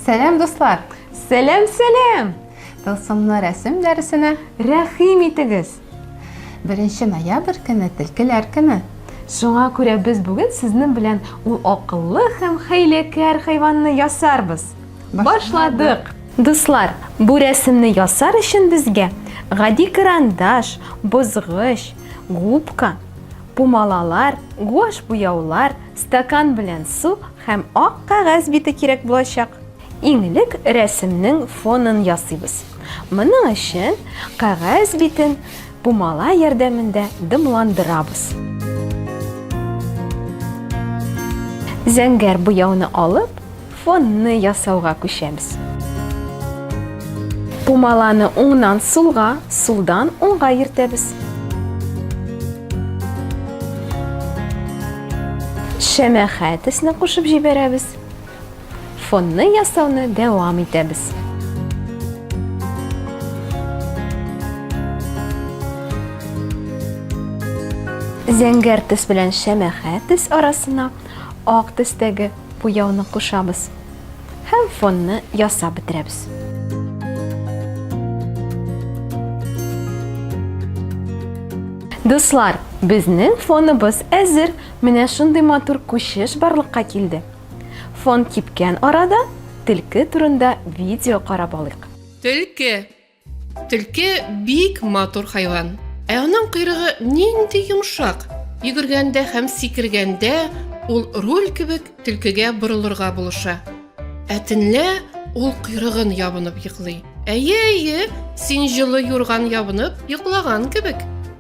Сәлам, дуслар! Сәлам, сәлам! Тылсымлы рәсем дәресенә рәхим итегез! Беренче ноябрь көне телкеләр көне. Шуңа күрә без бүген сезнең белән ул акыллы һәм хәйләкәр хайванны ясарбыз. Башладык! Дуслар, бу рәсемне ясар өчен безгә гади карандаш, бозгыч, губка, пумалалар, гуаш буяулар, стакан белән су һәм ак кәгазь бите кирәк булачак. Иң элек рәсемнең фонын ясыйбыз. Моның өчен кәгазь битен пумала ярдәмендә дымландырабыз. Зәңгәр буяуны алып, Фонны ясауга күчәбез. Пумаланы уңнан сулга, сулдан уңга йөртәбез. Шәмәхә төсне кушып җибәрәбез. Фонны ясауны дәвам итәбез. Зәңгәр төс белән шәмәхә төс арасына ак төстәге Буяуны кушабыз һәм фонны ясап бетерәбез. Дуслар, безнең фоныбыз әзер. Менә шундый матур күчеш барлыкка килде. Фон кипкән арада, төлке турында видео карап алыйк. Төлке, Төлке бик матур хайван. Ә аның койрыгы нинди йомшак. Йөгергәндә һәм сикергәндә ул руль кебек төлкегә борылырга булыша. Ә төнлә ул койрыгын ябынып йоклый. Әйе, әйе, син җылы юрган ябынып йоклаган кебек.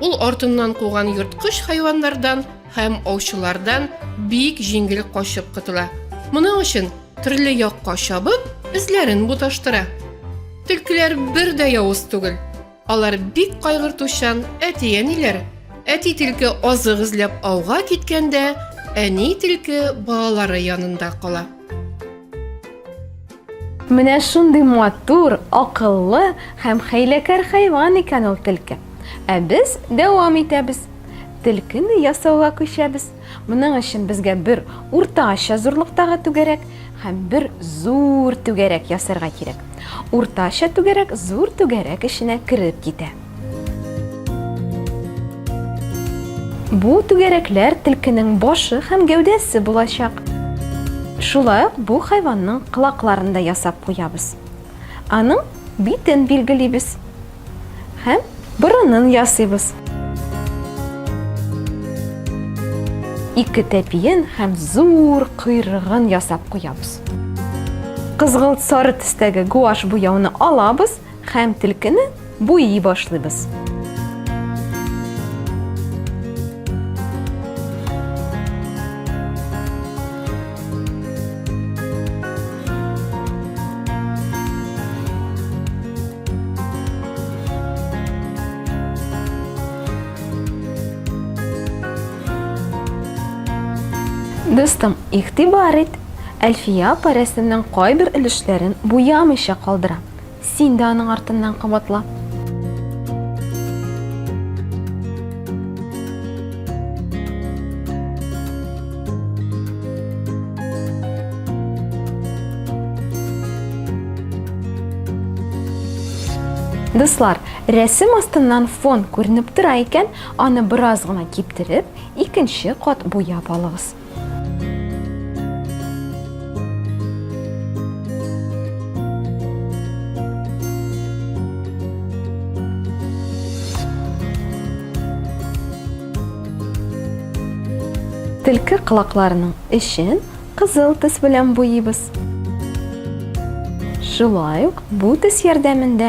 Ул артыннан куган йорткыч хайваннардан һәм аучылардан бик җиңел качып котыла. Моның өчен төрле якка чабып, эзләрен буташтыра. Төлкеләр бер дә явыз түгел. Алар бик кайгыртучан әти-әниләр. Әти төлке азык эзләп ауга киткәндә, әни төлке балалары янында кала. Менә шундый матур, акыллы һәм хәйләкәр хайван икән ул телке. Ә без дәвам итәбез. Телкене ясауга күчәбез. Моның өчен безгә бер уртача зурлыктагы түгәрәк һәм бер зур түгәрәк ясарга кирәк. Уртача түгәрәк зур түгәрәк эченә кереп китә. Бу түгәрәкләр тилкенең башы һәм гәүдәсе булачак. Шулай ук бу хайванның кылакларын да ясап куябыз. Аның битен билгелибез һәм борынын ясыйбыз. Ике тәпиен һәм зур койрыгын ясап куябыз. Кызгылт-сары төстәге гуашь буяуны алабыз Хәм телкене буйи башлыйбыз. Дустым, игътибар ит, Әлфия апа рәсемнең кайбер өлешләрен буямыйча калдыра. Син дә аның артыннан кабатла. Дуслар, рәсем астыннан фон күренеп тора икән, аны бераз гына киптереп, икенче кат буяп алыгыз. Төлке кылакларының эчен кызыл төс белән буйыбыз. Шулай ук бу төс ярдәмендә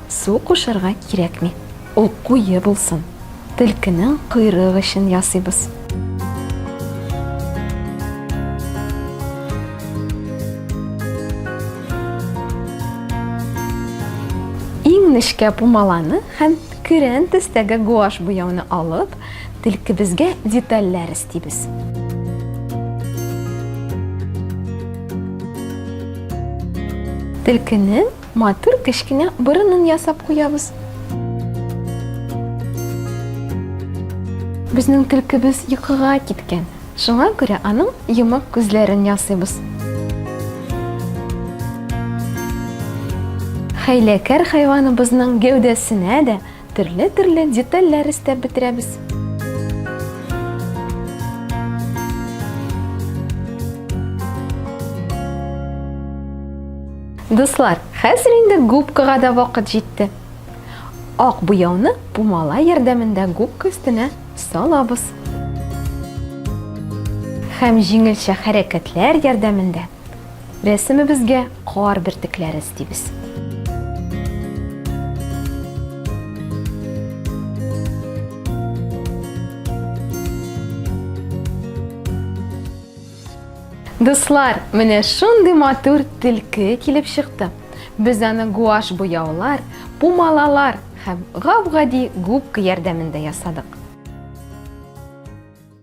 Су кушырга кирәкми, ул куе булсын. Төлкенең койрык эчен ясыйбыз. Иң нечкә пумаланы һәм көрән төстәге гуашь буяуны алып, төлкебезгә детальләр эстибез. Төлкенең Матур кечкенә борынын ясап куябыз. Безнең төлкебез йокыга киткән, шуңа күрә аның йомык күзләрен ясыйбыз. Хәйләкәр хайваныбызның гәүдәсенә дә Төрле-төрле детальләр өстәп бетерәбез. Дуслар, хәзер инде губкага да вакыт җитте. Ак буяуны пумала ярдәмендә губка өстенә салабыз. Һәм җиңелчә хәрәкәтләр ярдәмендә Рәсемебезгә кар бөртекләре өстибез. Дуслар, менә шундый матур тилке килеп чыкты. Без аны гуаш буяулар, пумалалар һәм гап-гади губка ярдәмендә ясадык.